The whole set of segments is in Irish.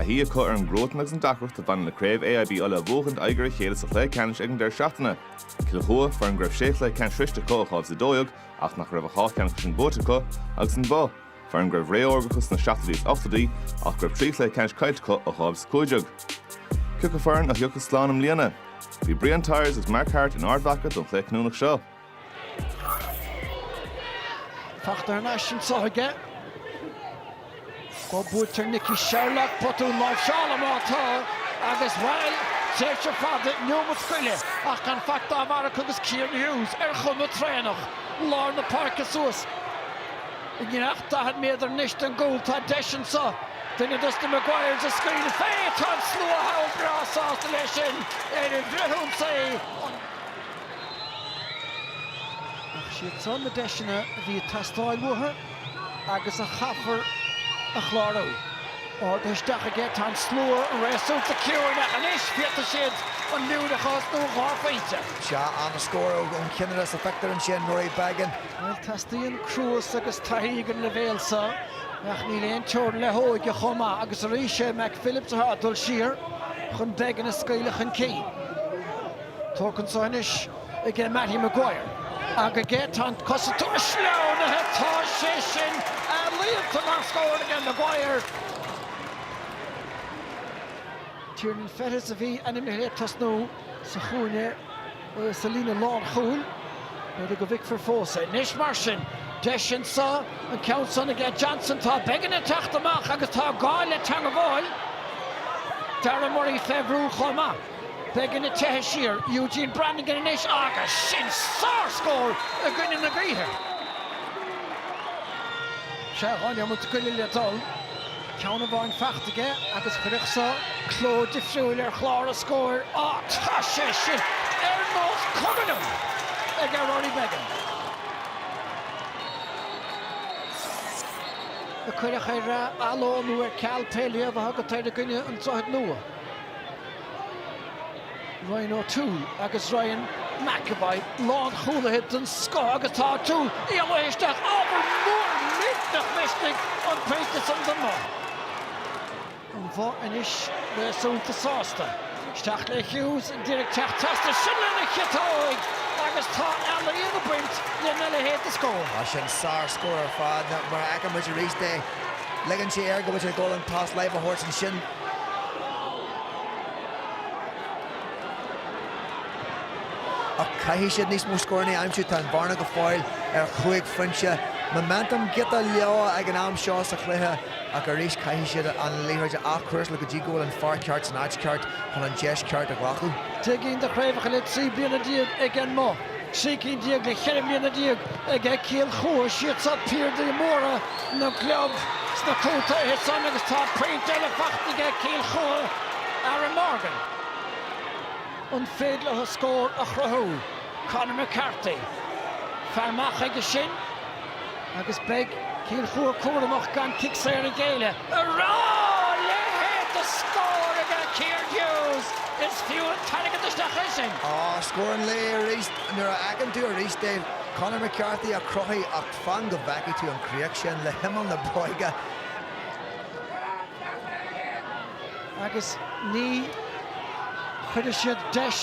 a shuí acu ar an gcruatan agus an deacracht a bhaineann le craobh AIB Uladh a bhuachaint aghaidh ar a chéile sa chluiche ceannais ag an deireadh seachtaine. Cill Chua, foireann go raibh sé chluiche ceannais sroichte acu ó 2012 ach nach raibh ach dhá cheann acu sin buaite acu, agus An Both, foireann go raibh ré órga acu sna seachtóidí is ochtóidí ach go raibh trí chluiche ceannais caillte acu ó 2015. Cioca foireann a thiocfas slán i mbliana? Bhí Brian Tyers agus Mark Harte in Ard Mhaca don chluiche cinniúnach seo. Fachtar ar ais anso chuige. Go mbuailtear Nicky Sherlock, botún láimhseála má tá, agus bhail, tréimhse fada inniu mo scoile ach gan faic dá bharr acu agus Kieran Hughes ar chuma traenach lár na páirce suas i ngiorracht 40 méadar anois den gcúl. Tá deis anso duine dos na Maguires a scaoileadh fé. Tá an slua thall breá sásta leis sin ar an bhreithiúnas é. Ach siad san na deiseanna a bhí ag teastáil uathu agus a chaithfear a chlárú. Ardaithe isteach aige, tá an slua réasúnta ciúin ach anois féadfaidh siad an liú a chlos nó dhá phointe. Sea, an-scór ón chinnire is a feictear ansin, Rory Beggan. Bhuel, teastaíonn cruas agus taithí ag an leibhéal seo ach níl aon teorainn le hóige chomh maith agus arís sé Mac Phillips atá ag dul siar chun Beggan a scaoileadh chun cinn. Tógtha anseo anois ag Mattie Maguire ach ag é tá an cosantóir sleamhnaithe tá sé sin ealaíonta mar scór ag Maguire. Tiernan Fettes a bhí ainmnithe le tosnú sa chúinne sa líne lánchúil. B'fhéidir go bhficfear fós é. Anois mar sin, deis anseo, an ceann san ag Johnson tá Beggan ag teacht amach agus tá gá le teangabháil Darragh Murray fé bhrú chomh maith. Beggan ag teitheadh siar Eugene Brannigan anois agus sin sárscór i gcoinne na gaoithe. Sea dhá neomat go leith le dul, ceann amháin faighte aige agus chuirfeadh seo cló difriúil ar chlár na scór ach tá sé sin ar nós cuma liom ag Rory Beggan. a cuireadh ar athló nó ar ceal pé léamh a thugann tú air i gcoinne an Droichid Nua. Ryan O'Toole agus Ryan McEvoy, lánchúlaithe den scoth agus tá O'Toole ag luí isteach ábhar mór millteach misnigh an pointe san don mBoth. An Bhoth anois réasúnta sásta. Isteach le Hughes an díreach teacht trasna sin lena chiotóig agus tá ealaíon ag baint lena leithéid de scór. Tá sin sár scór ar fad. Mar a fheiceann muid arís é, ligeann sé air go bhfuil sé ag dul an pas láimhe a thabhairt ansin. Ach caithfidh siad níos mó scóranna a aimsiú, tá an bhearna go fóill ar chúig phointe. Momentum giota leo ag an am seo sa chluiche ach arís caithfidh siad an liathróid a athchúrsáil go dtí go bhfuil an fear ceart san áit ceart chun an deis ceart a ghlacadh. Deich gcinn de chraobhacha le trí bliana déag ag an mBoth. Trí cinn déag le ceithre bliana déag ag Cill Chua, siad so piardaí móra na gclub sna contaetha san agus tá pointe eile faighte ag Cill Chua, Aaron Morgan. An féidir leo scór a chruthú? Conor McCarthy, fear maith chuige sin. agus beidh Cill Chua cúramach gan cic saor a ghéilleadh. Ara, a leithéid de scór ag Kieran Hughes, is fiú an t-airgead isteach sin. Á scór an lae arís, nuair a fheiceann tú arís é, Conor McCarthy a chruthaigh ach fan go bhfeicfidh tú an críoch sin le himeall na bróige. agus ní chuirfidh siad deis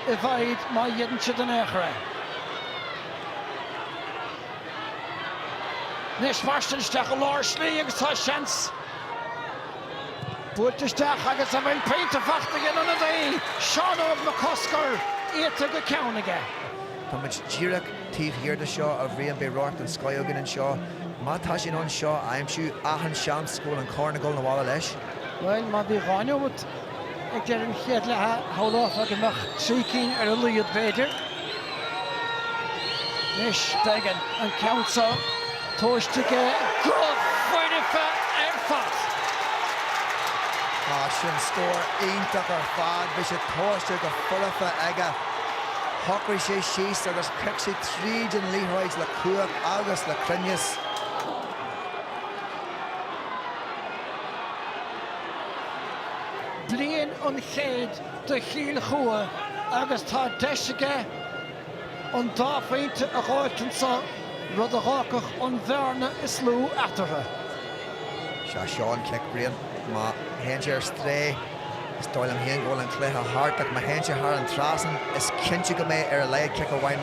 i bhfad má dhéanann siad an eochair é. Anois Martin isteach i lár slí agus tá seans buailte isteach agus a bhfuil pointe faighte ag an ionadaí, Seán Óg Mac Cosgair, iata go ceann aige. Tá muid díreach taobh thiar de seo, a Bhriain, beidh radharc den scoith againn anseo. Má tá sé in ann seo a aimsiú, achan seans go bhfuil an corn ag gabháil 'na bhaile leis. Bhuel, má bhí dhá nóiméad, Ag deireadh an chéad leatha, shamhlófá go mbeadh trí cinn ar a laghad, b'fhéidir. Anois, Beggan, an ceann seo, tomhaiste aige go foirfe ar fad! Tá sin scór iontach ar fad, bhí sé tomhaiste go foirfe aige. Shocraigh sé síos agus chic sé tríd an liathróid le cumhacht agus le cruinneas. bliain an chéid do Chill Chua agus tá deis aige an dá phointe a ghabháilt anseo, rud a dh'fhágfadh an bhearna is lú eatarthu. Seo é an cic, a Bhriain. Má théann sé ar strae, is dóigh liom féin go bhfuil an cluiche thart, ach má théann sé thar an trasnán, is cinnte go mbeidh ar a laghad cic amháin,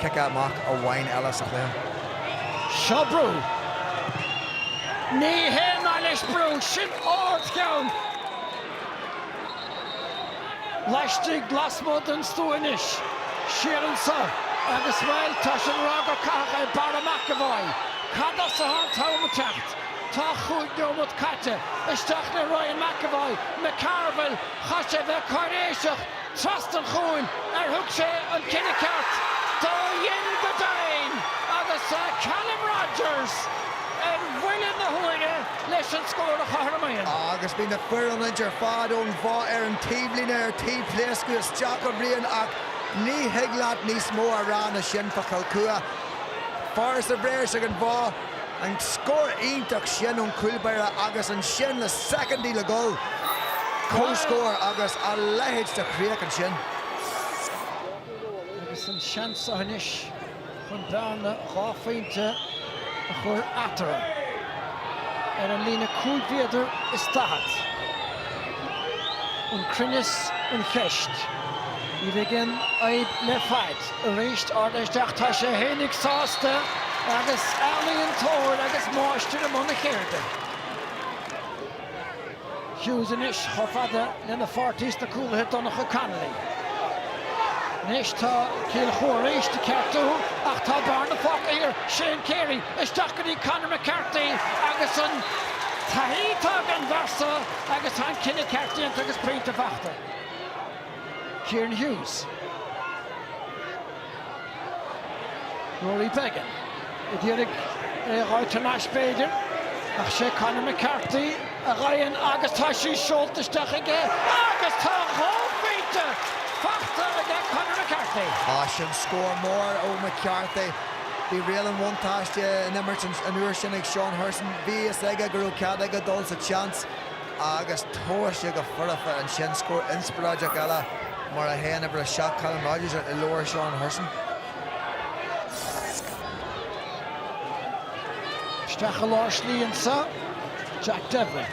cic amach amháin eile sa chluiche. Seo brú. Ní haon nath leis brú, sin ardcheann laistigh lasmuigh den stua anois. Siar anso agus bhuel, tá sé ag rá gur caitheadh é Barra McEvoy. Cad as atá an t-am ag teacht? Tá chúig nóiméad caite isteach le Ryan McEvoy, McCarville, chaith sé a bheith cáiréiseach. Trasna chugainn ar thug sé an cinneadh ceart dá dhein go deimhin agus Callum Rodgers ar bhuille na huaire leis an scór a chothramaíonn. Agus bhí na fir ionaid ar fad ón Bhoth ar an taobhlíne ar tí pléascadh isteach a Bhriain ach ní thig leat níos mó a rá na sin fá Chill Chua. Fear sa bhréis ag an Bhoth. An scór iontach sin ón gcúlbaire agus ansin le soicindí le dhul, comhscór agus a leithéid de chríoch ansin. Agus an seans seo anois chun bearna dhá phointe a chur eatarthu ar an líne cúig mhéadar is daichead. An cruinneas an cheist. Ní bheidh aon fhadhb le fad. arís. Ard isteach, tá sé fhéinig sásta agus ealaíontóir agus máistir i mbun a cheirde. Hughes anois chomh fada lena pháirtí sna cúlaithe Donncha Connolly. Anois tá Cill Chua arís ag ceartú ach tá bearna fágtha idir Shane Carey, isteach go dtí Conor McCarthy agus an taithí atá ag an bhfear seo agus tá an cinneadh ceart déanta agus pointe fachta. Kieran Hughes. Rory Beggan. ad iarraidh é a dh'fháil tar n-ais b'fhéidir, ach sé Conor McCarthy a gheibheann agus tá sí seolta isteach aige agus tá dhá phointe fachta aige Conor McCarthy. Á sin scór mór ó McCarthy. Bhí riail an bhuntáiste in imirt an uair sin ag Seán Hurson. Bhí fhios aige go raibh cead aige dul sa tseans. agus tomhaiste go foirfe ansin, scór inspioráideach eile, mar a théann uimhir a seacht Callum Rogers i leabhar Seán Hurson. Isteach i lár slí anseo, Jack Devlin.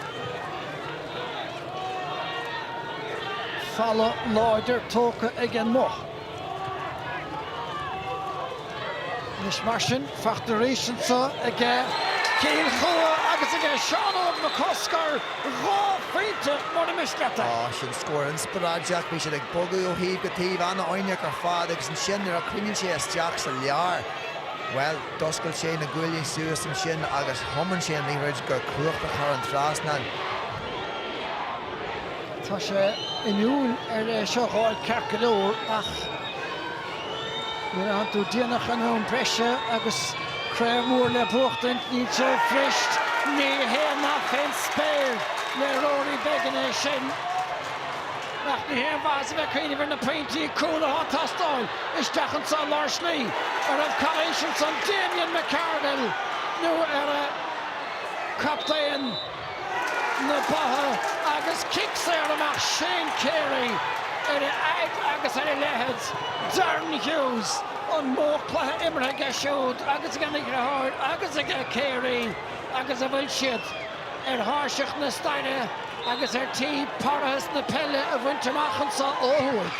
Falla láidir tógtha ag an mBoth. Anois mar sin, fachta arís anso aige Cill Chua agus aige Seán Óg Mac Cosgair, dhá phointe mura miste leat é. Á, sin scór inspioráideach. Bhí siad ag bogadh ó thaobh go taobh, an-fhoighneach ar fad agus ansin nuair a thagann sé isteach sa lár, bhuel, d'oscail sé na guaillí suas ansin agus thiomáin sé an liathróid go cumhachtach thar an trasnán. Tá sé inniúil ar é seo a dh'fháil ceart go leor ach nuair a fhanann tú déanach in am breise agus craobh mhór le buachtaint, níl sé fuirist! Ní haon nath fén spéir le Rory Beggan é sin ach ní haon mhaitheas a bheith ag cuimhneamh ar na pointí cúl atá ag teastáil isteach anseo i lár slí. An raibh calaois ansan? Damien McCarville nó ar a chaptaen? na Botha agus cic saor amach Shane Carey ar a fhad agus ar a leithead Darren Hughes, an mórchluiche imeartha aige siúd agus ag a dheartháir agus ag Carey agus a bhfuil siad ar thairseach na staire agus ar tí parthas na peile a bhaint amach anseo ó thuaidh.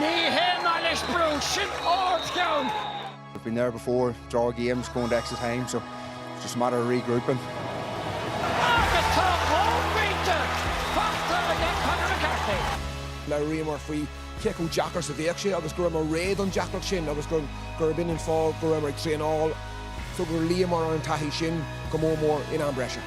Ní hé mar leis brú, sin ard cheann. Agus tá dhá phointe faighte ag an Conor McCarthy. Labhraíomar faoi cé chomh deacair is a bheadh sé agus go rabhamar réidh don deacracht sin agus gurb in an fáth go rabhamar ag traenáil. So gur luíomar ar an taithí sin go mór mór in am breise.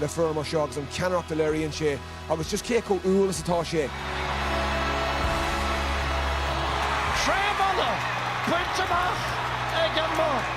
le fear mar seo agus an ceannaireacht a léiríonn sé agus just cé chomh humhal is atá sé. Craobh Uladh bainte amach ag an mBoth.